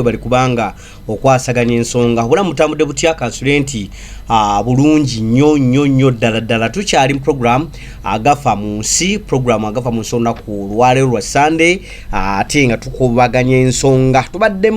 webali kubanga okwasaganya ensonga wabula mutambudde butya kansule nti ah, bulungi nnyo nnyo nnyo ddala ddala tukyali mu program agafa mu nsi program agafa mu nsi olunaku olwaleero lwa sunday ah, ate nga tukubaganya ensonga tubadde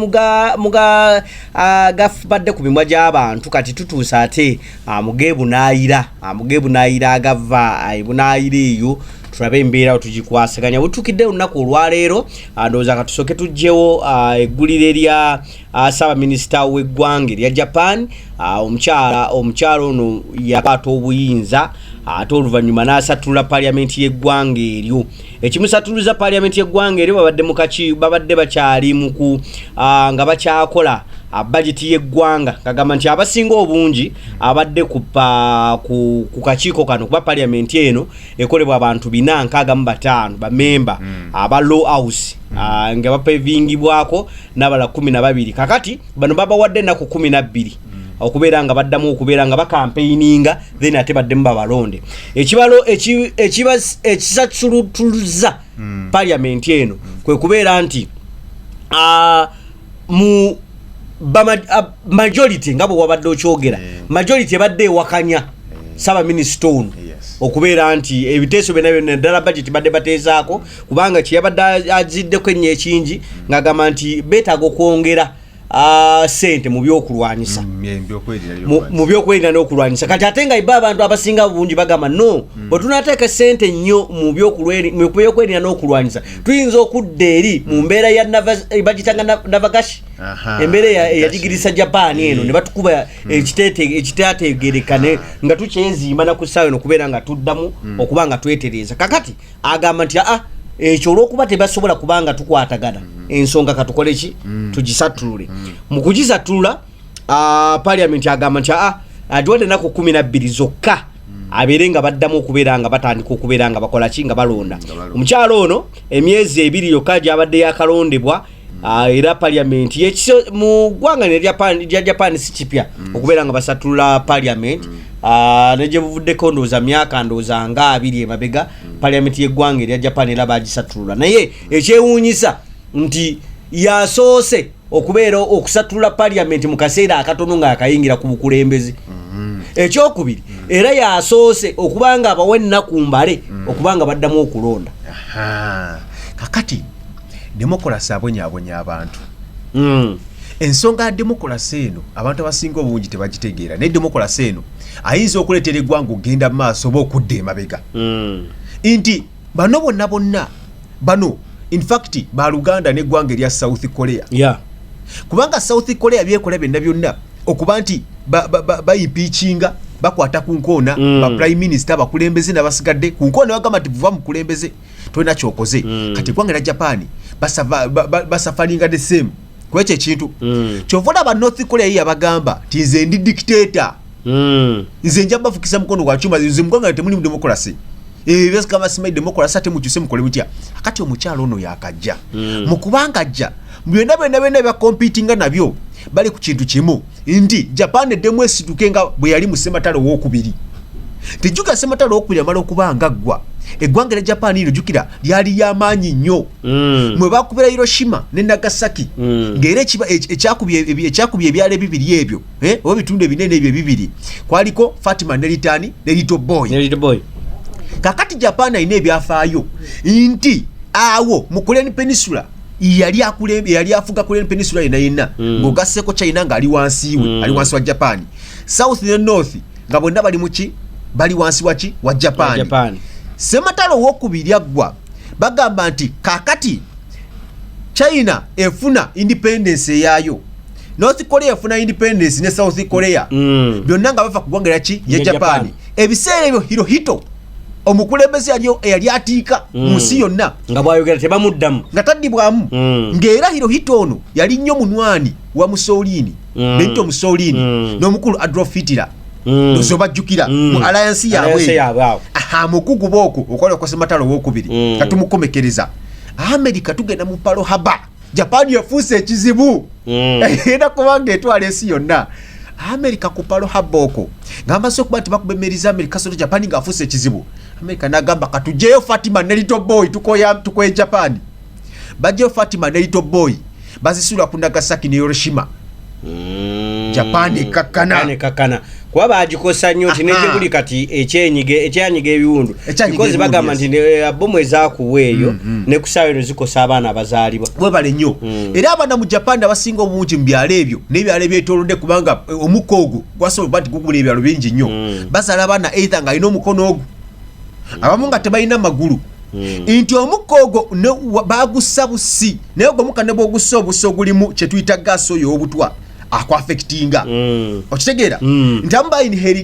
gafubadde ah, ku mimwa gy'abantu kati tutuusa ate mugebunaayira mugebunaayira agava ebunaayira eyo tulabe embeera wetugikwasaganya wetukidde olunaku olwaleero Ah, ndowooza ka tusooke tugyewo ah, eggulire lya ah, ssaabaminisita w'eggwanga erya japan omukyala omukyala ono yakwata obuyinza ate oluvannyuma n'asattulula paliamenti y'eggwanga eryo ekimusattuluza paliamenti y'eggwanga eryo babadde mukaki babadde bakyali muku nga bakyakola bajeti y'eggwanga kagamba nti abasinga obungi abadde ku kakiiko kano kuba paliamenti eno ekolebwa abantu bina nkaaga mu bataano bamemba hmm. aba law house hmm. ah, nga bapevingibwako n'abala kumi na babiri kakati bano babawadde ennaku kumi na bbiri hmm. okubeera nga baddamu okubeera nga bakampeininga then ate baddemu babalonde ekibalo ekisasulutuluza paliamenti eno kwe kubeera nti ah, mu majority nga bwe wabadde okyogera mm. majority ebadde ewakanya mm. ssaabaminisita ono okubeera nti ebiteeso byona byona ddala bajeti badde bateezaako kubanga kyeyabadde aziddeko ennyo ekingi mm. ng'agamba nti beetaaga okwongera sente mu byokulwanyisa mu byokwerinda n'okulwanyisa kati ate nga iba abantu abasinga bungi bagamba no bwetunateeka sente nnyo mu byokwerinda n'okulwanyisa tuyinza okudda eri mu mbeera ya eh, bagitanga navagashi embeera eyajigirisa japaani eno ne batukuba hmm. ekitategeereka nga tukyeziima na ku ssaawa eno okubeera nga tuddamu hmm. okuba nga twetereeza kakati agamba nti aa ekyo olwokuba tebasobola kubanga tukwatagana mm. ensonga katukoleki mm. tugisattulule mm. mu kugisattulula ah, parliament agamba nti aa ah, agiwadde enaku kumi nabbiri zokka hmm. abeere nga baddamu okubeera nga batandika okubeera nga bakola ki nga balonda omukyalo ono emyezi ebiri yokka gyabadde yakalondebwa hmm. ah, era parliament mu ggwanga lya japan si kipya hmm. okubeera nga basatulula parliament negyebuvuddeko ndowooza myaka ndowooza nga abiri emabega parliament yeggwanga erya japan era bagisatulula naye ekyewuunyisa nti yasoose okubeera okusattulula parliament mu kaseera akatono ng'akayingira ku bukulembeze mm-hmm. ekyokubiri mm-hmm. era yasoose okuba nga abawa ennaku mbale mm-hmm. okuba nga baddamu okulonda kakati demokolasi abonyabonya abantu mm. ensonga ya demokolasi eno abantu abasinga obungi tebagitegeera naye demokolasi eno ayinza okuleetera eggwanga okugenda mu maaso oba okudda emabega mm. nti bano bonna bonna bano infact baluganda neggwanga erya south korea yeah. kubanga south korea byekola byonna byonna okuba nti bayipiikinga ba, ba, ba bakwata ku nkoona mm. ba prime minister abakulembeze nabasigadde ku nkoona bagamba nti vuva mukulembeze tolina kyokoze mm. kati eggwanga erya japaani basafalinga ba, ba, the same kwekyo ekintu mm. kyova olaba north korea yeyabagamba ti nze ndi dictator mm. nze nja bafukisa mukono gwa chuma nze muganga temuli mu democracy ebyo byose kama simai democracy ate mukyuse mukole mutya akati omukyalo ono yakajja mm. mukubanga ajja byonna byonna byonna byakompitinga nabyo bali ku kintu kimu nti japan eddemu esituke nga bwe yali mu sematalo owokubiri tejjuka sematalo owokubiri amala okuba nga ggwa eggwanga erya japan ino jjukira lyali lyamaanyi nnyo mm. mwe bakubira hiroshima ne nagasaki mm. ngaera ekyakubye ebyalo ebibiri ebyo eh, oba ebitundu ebinene ebyo ebibiri kwaliko fatima ne litani ne little boy ne little boy kakati japan alina ebyafaayo nti awo mu korean peninsula yali akulembe yali afuga korean peninsula yena yena mm. ngogasseko china nga ali wansi we mm. ali wansi wa japan south ne north nga bonna bali muki bali wansi waki wa japan, japan. sematalo owokubiri aggwa bagamba nti kakati china efuna independence eyayo north korea efuna independence ne south korea Mm. byonna nga bava ku ggwanga lyaki ya Ya Japan. japani ebiseera ebyo hirohito omukulembeze yali eyali atiika Mm. mu nsi yonna nga bwayogera tebamuddamu nga taddibwamu Mm. ng'era hirohito ono yali nnyo munywani wa mussolini Mm. benito mussolini Mm. n'omukulu adolf hitler Mm. ndozi obajjukira Mm. mu alliance yaabwe Alliance eyo. yaabwe awo. aha mukuguba okwo okwali okwasematalo owokubiri Mm. nga tumukomekereza amerika tugenda mu palo haba japan yafuuse ekizibu mm. era kubanga etwala ensi yonna amerika ku palo habooko ng'amaze okuba nti bakuba emmeeri za amerika soto japan ng'afuuse ekizibu amerika n'agamba katujeyo fatima ne lito boy tukoye japan bajjeyo fatima ne lito boy bazisuula ku nagasaki ne yoroshima japan ekkakkana kuba bagikosa nnyo nti negyeguli kati ekyenyiga ekyanyiga ebiwundu bikozi bagamba nti eh, bomu ezakuwa eyo mm, mm. nekusaawa eno zikosa abaana abazaalibwa webale nnyo mm. era abaana mu japan abasinga obungi mu byalo ebyo nebyalo ebyetolodde kubanga eh, omukka ogwo gwasobola nti gugula ebyalo bingi nnyo bazaala abaana eitha nga alina omukono ogwo abamu nga tebalina magulu Hmm. nti omukka ogwo bagussa busi naye ogwo omukka ne bwogussa obusi ogulimu kyetuyita gaasi oyo owobutwa akwafekitinga hmm. okitegeera hmm. nti amu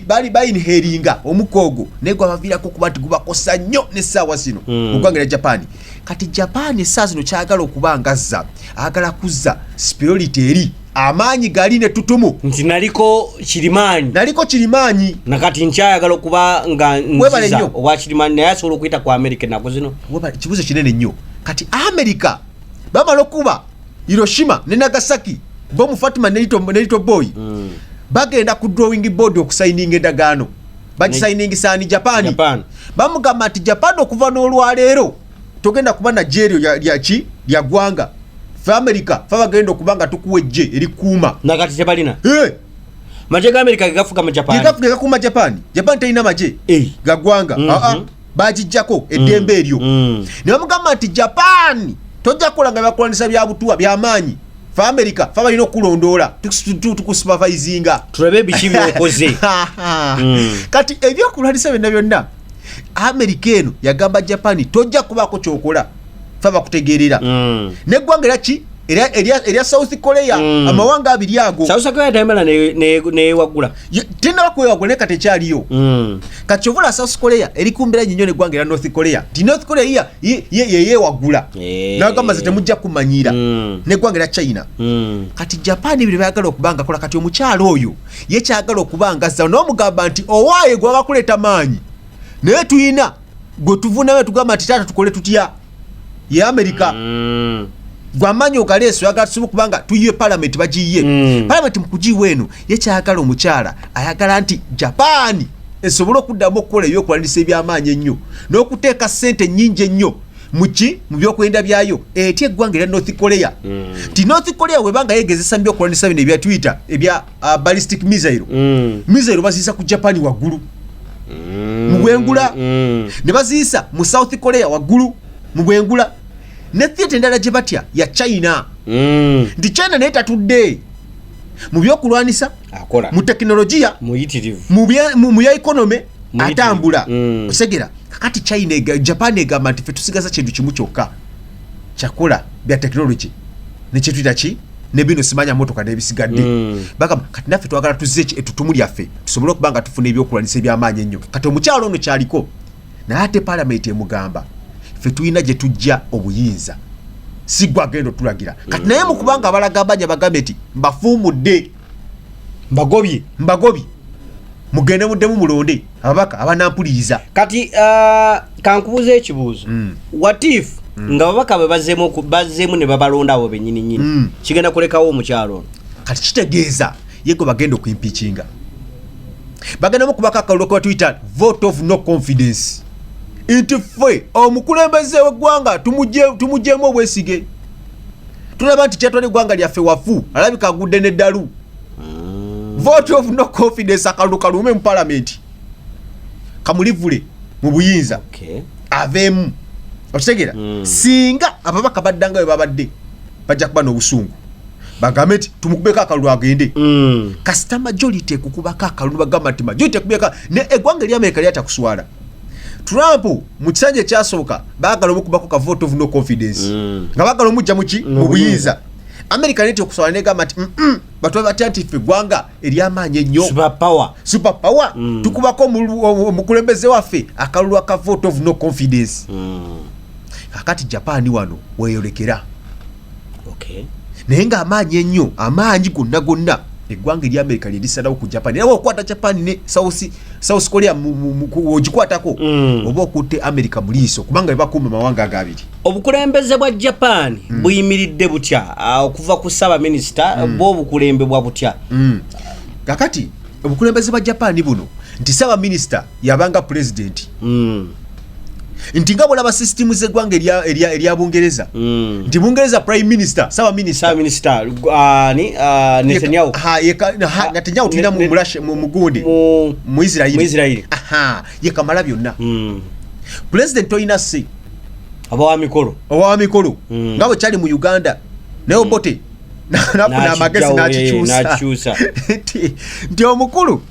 bali bayinheringa omukka ogwo naye gwabaviirako okuba nti gubakosa nnyo nessaawa zino ogwanga era japaani kati japaani essaawa zino kyagala okuba ngazza agala kuzza spirolity eri amaanyi gali ne tutumu nti naliko kirimaanyi naliko kirimaanyi nakati nkyayagala okuba nga nziza obwa kirimaanyi naye asobola okuyita ku amerika ennaku zino kibuzo kinene nnyo kati amerika bamala okuba hiroshima ne nagasaki bomu fatima nelito boy mm. bagenda ku drawing board okusayininga endagaano bagisayiningisaani japan bamugamba nti japan okuva n'olwaleero togenda kuba na jeryo lya ki lya gwanga fa america fa bagenda okuba nga tukuwa ejje eri kuuma na kati tebalina eh maje ga america gafuka mu japan gafuka ga kuma japan japan tayina maje eh ga gwanga mm -hmm. a a bajijjako eddembe eryo mm. mm. ne bamugamba nti japan tojja kukola nga bakulanisa bya butuwa bya maanyi fa america fa balina okulondoola tukusupervisinga tulabe biki byokoze mm. kati ebyokulwanisa byonna byonna amerika eno yagamba japan tojja kubaako kyokola fe abakutegeerera mm. neggwanga era ki erya south korea mm. amawanga abiri ago tenaba kwewagula naye kati ekyaliyo mm. kati kyovula south korea eri kumbera nyinyo neggwanga era north korea ti north korea iya yeyewagula eh. nagamba ze temujja kumanyira neggwanga era china kati japan ebiri bayagala okuba nga kola kati omukyalo oyo ye kyagala okuba nga zaabu naye omugamba nti owaaye gwaba kuleeta maanyi naye tulina gwe tuvunamu tugamba nti taata tukole tutya ye amerika mm. gwamaanyi ogaleeso yagala tusobola okubanga tuyiwe palamenti bagiyiye mm. palamenti mukugiiwa eno ye kyagala omukyala ayagala nti japaani esobole okuddamu okukola ebyokulanisa ebyamaanyi ennyo n'okuteeka ssente ennyingi ennyo muki mu byokwenda byayo etya eggwanga erya north korea mm. nti mm. north korea webanga yegezesa mu byokulwanisa bino ebya twitter ebya uh, ballistic missile mm. missile baziyisa ku japan waggulu mm. mu bwengula mm. ne baziyisa mu south korea waggulu mu bwengula ne theatre endala gye batya ya china mm. nti china naye tatudde mu byokulwanisa akola mu tekinologiya muyitirivu mu bya ekonome atambula mm. osegera kakati china ega, japan egamba nti fe tusigaza kintu kimu kyokka kyakola bya tekinologi nekyetuyita ki ne bino simanya motoka nebisigadde mm. bagamba kati naffe twagala tuzze etutumu lyaffe tusobole okuba nga tufuna ebyokulwanisa ebyamaanyi ennyo kati omukyalo ono kyaliko naye ate palamenti emugamba fe tulina gye tujja obuyinza sigwa agenda otulagira kati naye mukubanga abalagambanya bagambe nti mbafuumudde mbagobye mbagobye mugende muddemu mulonde ababaka abanampuliriza kati uh, kankubuuza ekibuuzo mm. watif mm. nga babaka bwe bazeemu ne babalonda abo benyini nyini mm. kigenda kulekawo omukyalo ono kati kitegeeza yego bagenda okuimpikinga bagendamu kubako akalulu kebatuyita vote of no confidence nti ffe omukulembeze weggwanga tumugyemu obwesige tulaba nti kyatwala eggwanga lyaffe wafu alabika agudde neddalu mm. vote of no confidence akalulu kaluume mu palamenti kamulivule mu buyinza aveemu okitegera mm. singa ababaka baddanga we babadde bajja kuba n'obusungu bagambe nti tumukubeko akalulu agende mm. kasita majority ekukubako akalulu bagamba nti majority ekubeka ne egwanga eri amerika lyata kuswala trump mu kisanja ekyasooka bagala omukubako ka vote of no confidence mm. nga bagala omujja muki mu buyinza amerika neti okuswala negamba nti batuba batya nti ffe egwanga eryamaanyi ennyo super power mm. tukubako omukulembeze waffe akalulu aka vote of no confidence mm. kakati japaani wano weyolekera okay. naye nga amaanyi ennyo amaanyi gonna gonna eggwanga erya amerika lyerisalawo ku japan era waokukwata japan ne south korea ogikwatako mm. oba okutte amerika mu liiso kubanga bebakuuma mawanga agabiri obukulembeze bwa japan mm. buyimiridde butya ah, okuva ku ssaabaminisita mm. bwo obukulembebwa butya mm. kakati obukulembeze bwa japan buno nti ssaabaminisita yabanga pulezidenti mm. nti nga bwolaba sisitimu zeggwanga erya bungereza mm. nti bungereza prime minister sawa ministernetanyahu tulina mugundi muisraeli yekamala byonna mm. pulezidenti tolina si abawamikolo owamikolo mm. nga bwe kyali mu uganda naye mm. obote nafuna amagezi eh, nakikyusa nti omukulu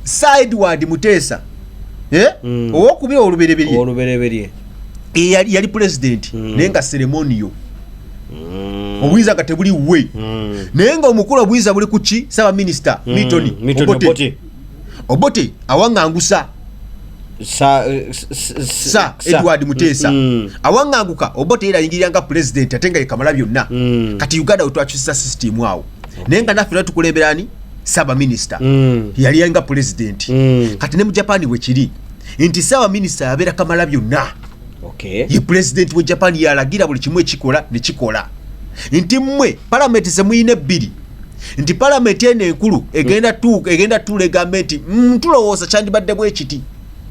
sideward muteesa eh? mm. owokubira olubereberye yali pulezidenti mm. naye nga seremoniyo mm. obuyinza nga tebuli we mm. naye nga omukulu obuyinza buli kuki sabaminisita mm. mitoni mm. obote obote awangangusa sa, eh, sa edward muteesa mm, mm. awanganguka obote era ayingirira nga pulezidenti ate nga yekamala byonna mm. kati uganda wetwakyusiza sisitimu awo okay. naye nga naffe natukulemberani sabaminista mm. yali yanga pulezidenti mm. kati ne mu japani wekiri nti sabaminista yabeera kamala byonna okay. ye pulezidenti we japani yalagira buli kimu ekikola nekikola nti mmwe palamenti zemuyina ebbiri nti palamenti eno enkulu egenda tuuka egenda tuula egambe nti mm, tulowooza kyandibadde bwe kiti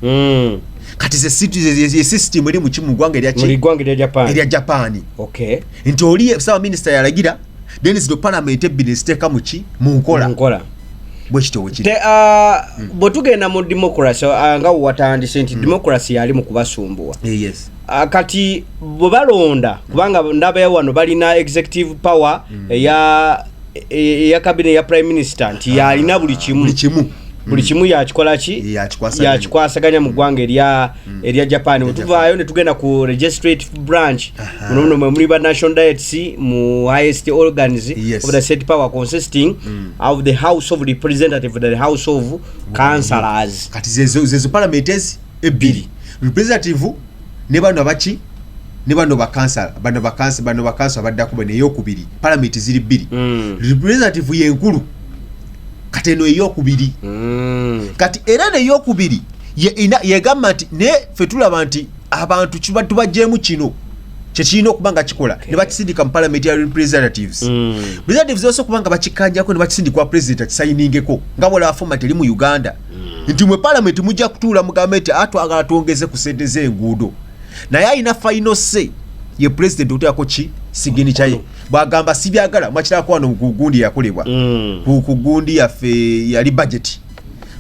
Mm. kati ze situ- ze- ze- ye system eri mu ki- mu ggwanga erya Mu ki- liggwanga erya Japan. erya japaani Okay. nti oli ssaabaminisita yalagira then zino palamenti ebbiri neziteeka mu ki mu nkola Nkola. bwe kityo bwe kiri Te, ah, bwe tugenda mu democracy ah, nga watandise nti democracy yali mu kubasumbuwa Eh, yes Ah, kati bwe balonda kubanga ndabaya wano balina executive power mm. eya eya kabine ya prime minister nti yalina ah, buli kimu buli kimu buli mm. kimu yakikola ki yakikwasaganya mu ggwanga erya mm. erya japan wetuvaayo ne tugenda ku registrate branch muno muno mwemuli ba national diets mu highest organs of the state power consisting of the house of representative the house of councilors kati zezo palamenti ezi ebbiri representative ne bano abaki ne bano bakansala bano bakansa bano bakansa abaddako bano eyokubiri palamenti ziri bbiri mm. representative yenkulu kati eno eyokubiri mm. kati era neyokubiri yegamba nti ne fe tulaba nti abantu kiba tubajjeemu kino kyekirina okuba nga kikola okay. ne bakisindika mu palamenti ya representatives mm. representatives osobola okuba nga bakikanjako ne bakisindikwa president akisayiningeko nga bwolaba fomati eri mu uganda mm. nti mwe palamenti mujja kutuula mugambe nti atwagala ah, twongeze ku sente z'enguudo naye alina faino se ye pulezidenti oteako ki sigini kyaye bwagamba sibyagala mwakirako wano ku gundi yakolebwa mm. ku gundi yaffe yali bajeti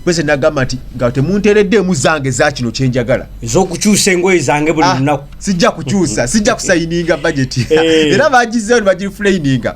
pese nagamba nti nga temuntereddemu zange za kino kyenjagala ezokukyusa engoye zange buli ah, lunaku sijja kukyusa sijja kusayininga bajeti eh. era bagizeyo nibagirifulaininga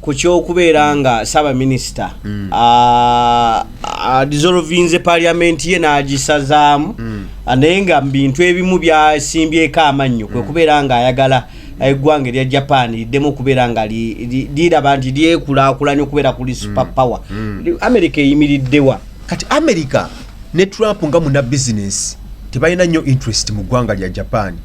ku kyokubeera nga ssaabaminisita mm. adisolovinze paliamenti ye n'agisazaamu mm. naye nga bintu ebimu byasimbyeko amannyo kwe mm. kubeera ng'ayagala eggwanga erya japan liddemu okubeera nga liraba nti lyekulaakulanya okubeera kuli super power amerika eyimiriddewa kati amerika ne trump nga muna bizinesi tebalina nnyo interest mu ggwanga lya japan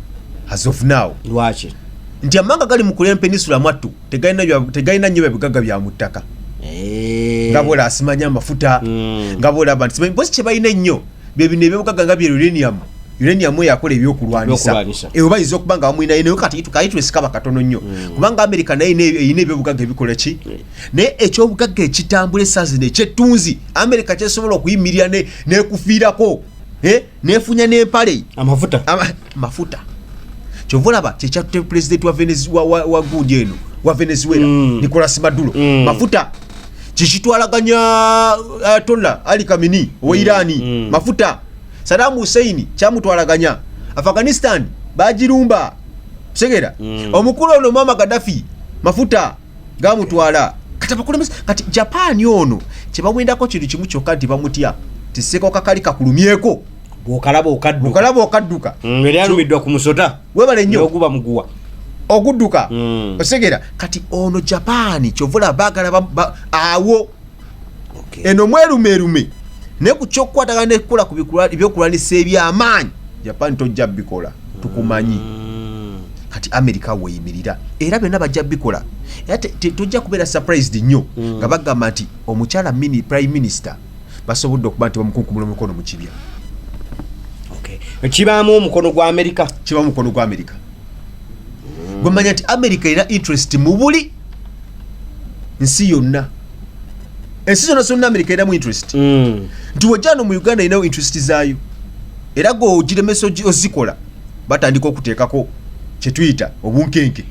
as of now lwaki nti amanga gali mu kulempeninsula mwattu tegalina nyo byabugaga bya mu ttaka eh. nga bola asimanya amafuta hmm. nga bola abantu simanyi bosi kyebalina ennyo byebino ebyobugaga nga bye uranium uranium eyo akola ebyokulwanyisa eyo bayinza okuba nga bamulinayo naye kati kayi twesikaba katono nnyo hmm. kubanga amerika naye erina ebyobugaga ebikola ki hmm. naye ekyobugaga ekitambula esaazi nekyettunzi amerika kyesobola okuyimirira nekufiirako eh? nefunya nempale amafuta Ama, mafuta kyova olaba kyekyatte pulezidenti wa, Venez- wa, wa, wa gundi eno wa venezuela Mm. nicolas maduro Mm. mafuta kikitwalaganya ayatolla ali kamini owa irani Mm. mafuta sadamu huseini kyamutwalaganya afghanistan bagirumba segera Mm. omukulu ono mama gadafi mafuta gamutwala kati abakulembeze kati japan ono kyebawendako kintu kimu kyokka nti bamutya tiseko kakali kakulumyeko bwokalaba okadduka okalaba okadduka mm, era alumiddwa ku musota webale nnyo oguba muguwa okudduka mm. osegera kati ono japan kyovula bagala awo eno mwerumerume ne ku kyokukwatagana nekukola ku byokulwanisa ebyamaanyi japan tojja bikola tukumanyi mm. kati america weyimirira era byonna bajja bikola era tojja kubeera surprised nnyo mm. nga bagamba nti omukyala mini prime minister basobodde okuba nti bamukunkumula omukono mu kibya kibaamu omukono gwa amerika kibamu omukono gwa amerika mm. gwemanya nti amerika erina interest mu buli nsi yonna ensi zonna zonna amerika eramu interest mm. nti wejjano mu uganda erinawo interest zaayo era gwe ogiremesa ozikola batandika okuteekako kyetuyita obunkenke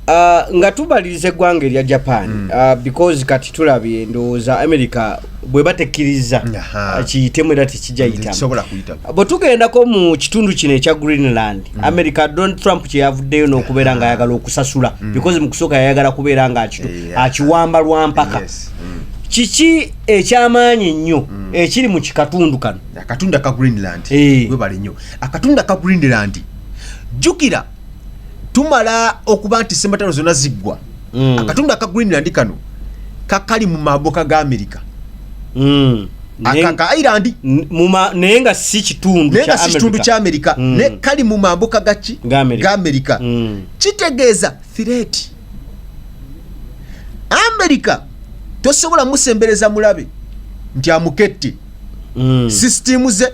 ah, nga tubaliriza eggwanga erya japan mm. ah, because kati tulabye ndowooza amerika bwe batekkiriza ah, kiyitemu era tekijayitamu tugendako mu kitundu kino ekya greenland mm. america donald trump kyeyavuddeyo n'okubeera nga ayagala okusasula mm. because mu kusooka yayagala kubeera nga akiwamba lwa mpaka mm. kiki ekyamaanyi ennyo ekiri mu kikatundu kano akatundu aka greenland eh. webale nnyo akatundu aka greenland jjukira tumala okuba nti sematano zona ziggwa mm. akatundu aka greenland kano kakali mu maboka ga amerika mm. akakailand naye nga si kitundu naye nga si kitundu kya amerika mm. ne kali mu maboka gaki ga amerika mm. kitegeeza thireti amerika tosobola musembereza mulabe nti amukette mm. sisitimu ze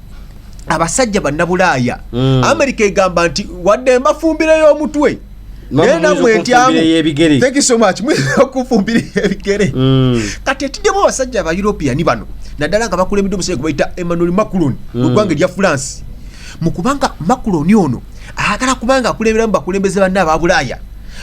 abasajja bannabulaaya mm. amerika egamba nti wadde mbafumbirayo omutwe nayenamuetyaokufumbiraebigere mm. kati etiddemu abasajja aba european bano naddala nga bakulembedde omusajja gwebayita emmanuel macron mm. mugwanga erya france mukubanga macron ono ayagala kubanga akulemberamu bakulembeze banne aba bulaaya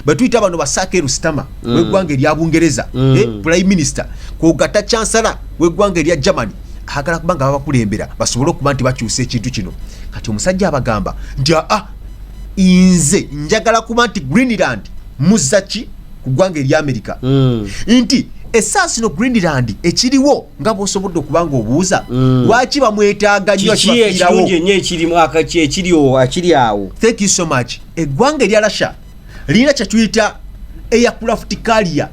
betuyita bano basaake rusitama mm. wegwanga erya bungereza eh, prime minister kogata chansala wegwanga erya germany agala kuba nga babakulembera basobole okuba nti bakyusa ekintu kino kati omusajja abagamba nti aa ah, nze njagala kuba nti greenland muzaki ku ggwanga eri amerika mm. nti esaasi no greenland ekiriwo nga bwosobodde okuba nga obuuza mm. lwaki bamwetaaga nyo kibairawo ekiriwo akiri awo thank you so much eggwanga erya russia lirina kyetuyita aircraft carrier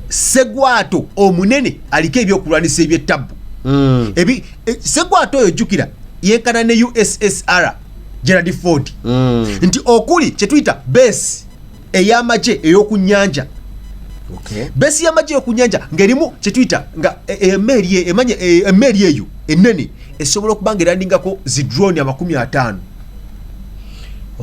segwato omunene aliko ebyokulwanisa ebyettabu mm. e, segwato oyo jukira yenkana ne ussr gerald ford mm. nti okuli kyetuyita base eyamagye eyokunyanja okay. base yamagye eyokunyanja ngaerimu kyetuyita nga e, e, emeeri e, emanya emeeri eyo enene esobola okuba nga erandingako zidroni amakumi ataano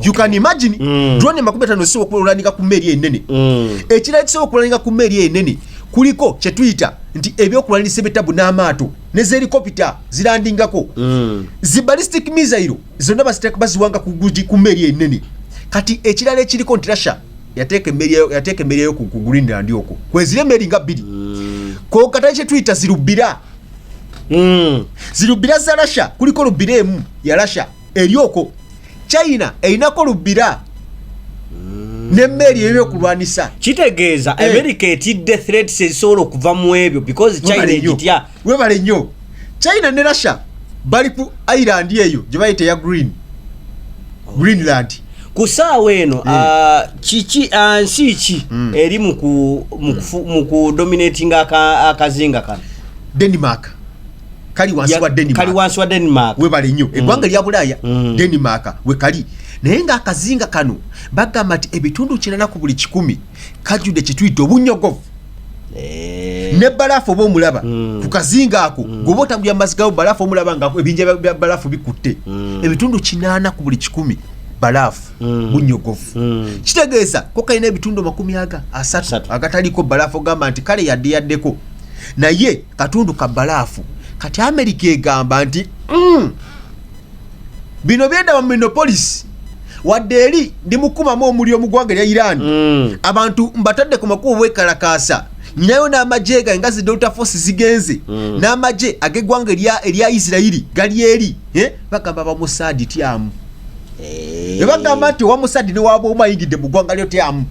you can imagine mm. drone makumi atano ezisobola okululanika ku mmeeri enene mm. ekirala ekisobola okululanika ku mmeeri enene kuliko kye tuyita nti ebyokulwanirisa ebitabu n'amaato ne zelikopita zilandingako mm. zi ballistic misairo zonna baziwanga ku mmeeri enene kati ekirala ekiriko nti russia yateeka emmeeri eyo ku greenland okwo kwezira emmeeri nga bbiri mm. kokata kye tuyita zirubira mm. zirubira za russia kuliko lubira emu ya russia eri okwo china erinako lubbira nemmeeri eyo byokulwanisa kitegeeza eh. amerika etidde threats ezisobola okuva mu ebyo because china egitya webale nnyo china ne russia bali ku ireland eyo gye bayita eya green oh. greenland ku saawa eno eh. ah, kiki ah, nsi ki hmm. eri mu kudominatinga akazinga kano denmark kali wansi wa Denmark kali wansi wa Denmark we bali nyo mm. egwanga lya bulaya mm. Denmark we kali naye nga akazinga kano bagamba nti ebitundu kinana ku buli kikumi kajude kituyita obunyogovu eh. ne balafu oba omulaba mm. ku kazinga ako mm. goba otambulira mumazzi gawo balafu omulaba nga ebinja bya balafu bikutte mm. ebitundu kinana ku buli kikumi balafu mm. bunyogovu mm. kitegeeza ko kalina ebitundu makumi aga asatu agataliko balafu ogamba nti kale yadde yaddeko naye katundu ka balaafu kati amerika egamba nti mm, bino byendaba mu minopolisi wadde eri ndi mukumamu omuliro mu ggwanga erya iran mm. abantu mbatadde ku makubo bwekalakaasa nyinayo n'amagye gange nga zi delta force zigenze mm. n'amagye ag'eggwanga erya isirairi gali eri eh? bagamba bamusaadi tyamu eh. ebagamba nti owamusaadi newaba omayingidde mu ggwanga lyo tyamu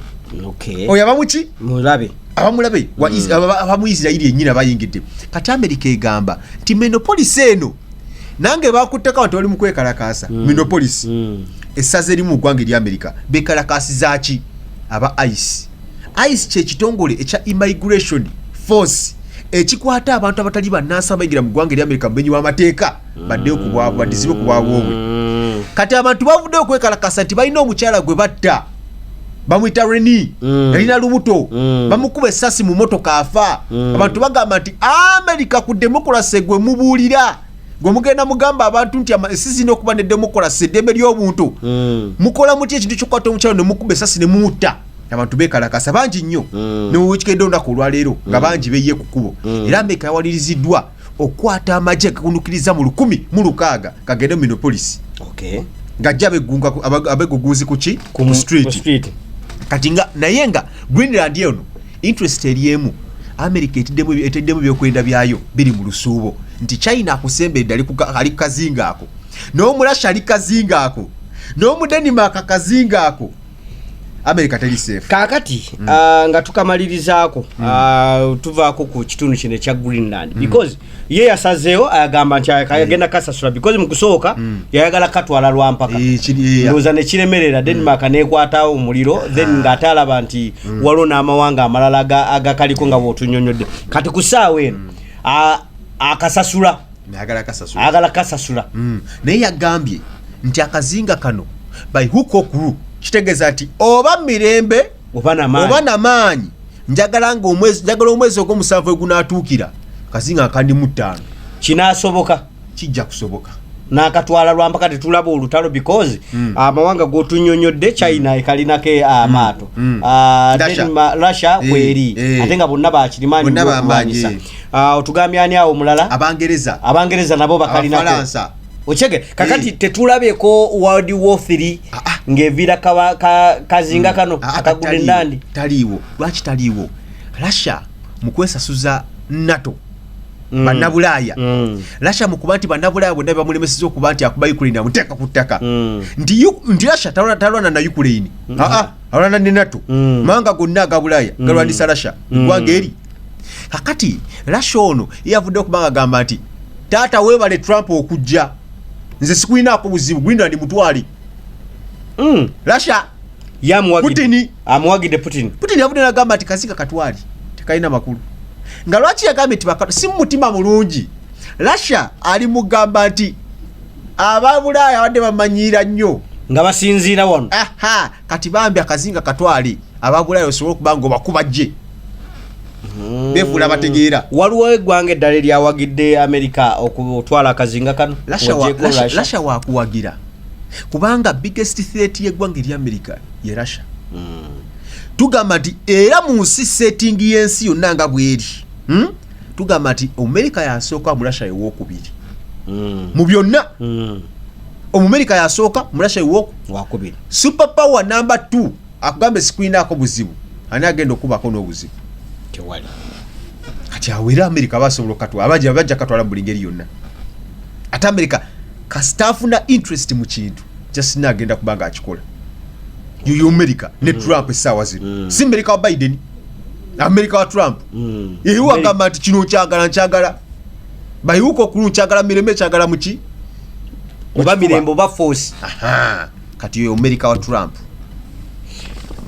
oyo abamuki mulabe abamulabe hmm. abamu isirairi yenyini abayingidde kati amerika egamba nti menopolisi eno nange bakutteko abantu bali mukwekalakaasa hmm. menopolisi hmm. essaza erimu mu ggwanga erya amerika bekalakaasizaki aba ice ice kyekitongole ekya immigration force ekikwata abantu abatali bannansi abayingira mu ggwanga erya amerika mumenyi w'amateeka baddeyo kubwabwe badizibe kubwabwobwe kati abantu bavuddeyo okwekalakasa nti balina omukyala gwe batta bamwita reni mm. yalina lubuto mm. bamukuba esasi mu motoka afa mm. abantu bagamba nti amerika ku demokolasi gwe mubuulira gwe mugenda mugamba abantu nti ensi zirina okuba ne demokolasi eddembe ly'obuntu mm. mukola muti ekintu kyokwata omukyalo ne mukuba esasi ne mutta abantu bekalakasa bangi nnyo mm. newekikedde olunaku olwaleero nga mm. bangi beye ku kkubo mm. era amerika yawaliriziddwa okukwata amagye gagunukiriza mu lukumi mu lukaaga kagende mu minopolisi ng'ajja abegugunzi kuki ku mu street kati nga naye nga greenland eno interest eri emu america eteddemu ebyokwenda byayo biri mu lusuubo nti china akusembedde ali kukazinga ako n'omurasha ali kazinga ako n'omudenimaka kazinga ako america teri safe kakati mm. uh, nga tukamalirizaako mm. uh, tuvaako ku kitundu kino ekya greenland mm. because ye yasazeewo ayagamba nti ayagenda mm. kasasula because mu kusooka mm. yayagala katwala lwampaka eh, eh, ndowooza ne kiremerera mm. denmark mm. neekwatawo omuliro ah. then nga ate alaba nti mm. waliwo n'amawanga amalala agakaliko nga bwotunyonyodde kati ku saawa eno mm. akasasula uh, ayagala kasasula ayagala kasasula mm. naye yagambye nti akazinga kano by hook or crook kitegeeza nti oba mirembe oba namaanyi njagala nga omwezi njagala omwezi ogwomusanvu egunatuukira kazinga akandi mu ttaano kinasoboka kijja kusoboka nakatwala lwampaka tetulaba olutalo because mm. amawanga uh, gotunyonyodde china mm. ekalinako eh, amaato uh, mm. uh, russia kweri eh, eh. ate nga bonna bakirimaanyiwanyisa eh. ah, otugambye ani awo mulala abangereza abangereza nabo bakalinaafalansa okyege kakati hey. Eh. tetulabeko world war 3 ah, ah. ng'eviira ka, ka, kazinga mm. kano mm. akagula enandi taliiwo lwaki taliiwo russia mu kwesasuza nato Mm. banabulaaya mm. rasha mukuba nti banabulaaya bonna bebamulemeseza okuba nti akuba ukraine amuteeka ku ttaka mm. nti rasha talwana na ukraine mm. alwana ne nato mm. manga gonna aga bulaaya mm. galwanisa rasha eggwanga mm. eri kakati rasha ono yeyavudde okubanga agamba nti taata webale trump okujja nze sikulinaako buzibu gwinda ndi mutwali mm. rasha yamuwagidde amuwagidde putin putin yavudde nagamba nti kaziga katwali tekalina makulu nga lwaki yagambye nti si mumutima mulungi rasha ali mugamba nti aba bulaaya abadde bamanyiira nnyo nga basinziira wano aha kati bambi akazinga katwale aba bulaaya osobole okuba nga obakuba gye hmm. befuula bategeera waliwo eggwanga eddala eryawagidde amerika okutwala akazinga kano lasha wakuwagira kubanga biggest threat yeggwanga erya amerika ye lasha hmm. tugamba nti era mu nsi setting y'ensi yonna nga bweri hmm? tugamba nti omumerika yasooka murasha ewokubiri mm. mu byonna mm. omumerika yasooka murasha ewokubiri super power namba t akugambe sikulinaako buzibu ani agenda okubako n'obuzibu tewali kati awo era amerika basobola okatwa abaja bajja katwala buli ngeri yonna ate amerika kasita afuna interest mu kintu justina agenda kubanga akikola yoyo amerika ne mm. trump essaawa zino mm. si amerika wa biden amerika wa trump mm. iwe agamba nti kino nkyagala nkyagala bayiwuka okulu nkyagala mirembe kyagala muki oba mirembe oba force kati oyo amerika wa trump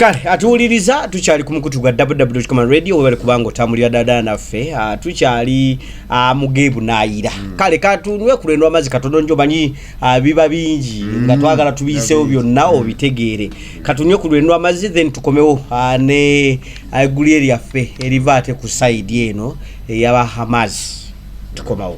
kale atuwuliriza tukyali ku mukutu gwa wwcom radio webale kubanga otambulira dada naffe ah, tukyali ah, mugeebu nayira hmm. kale katunwe kulwendo amazzi katono njo manyi ah, biba bingi hmm. nga twagala tubiyisewo byonna hmm. obitegeere katunywe ku lwenwa amazzi then tukomewo ah, ne aiguli ah, eryaffe eriva ate ku saidi eno eyaba hamas tukomawo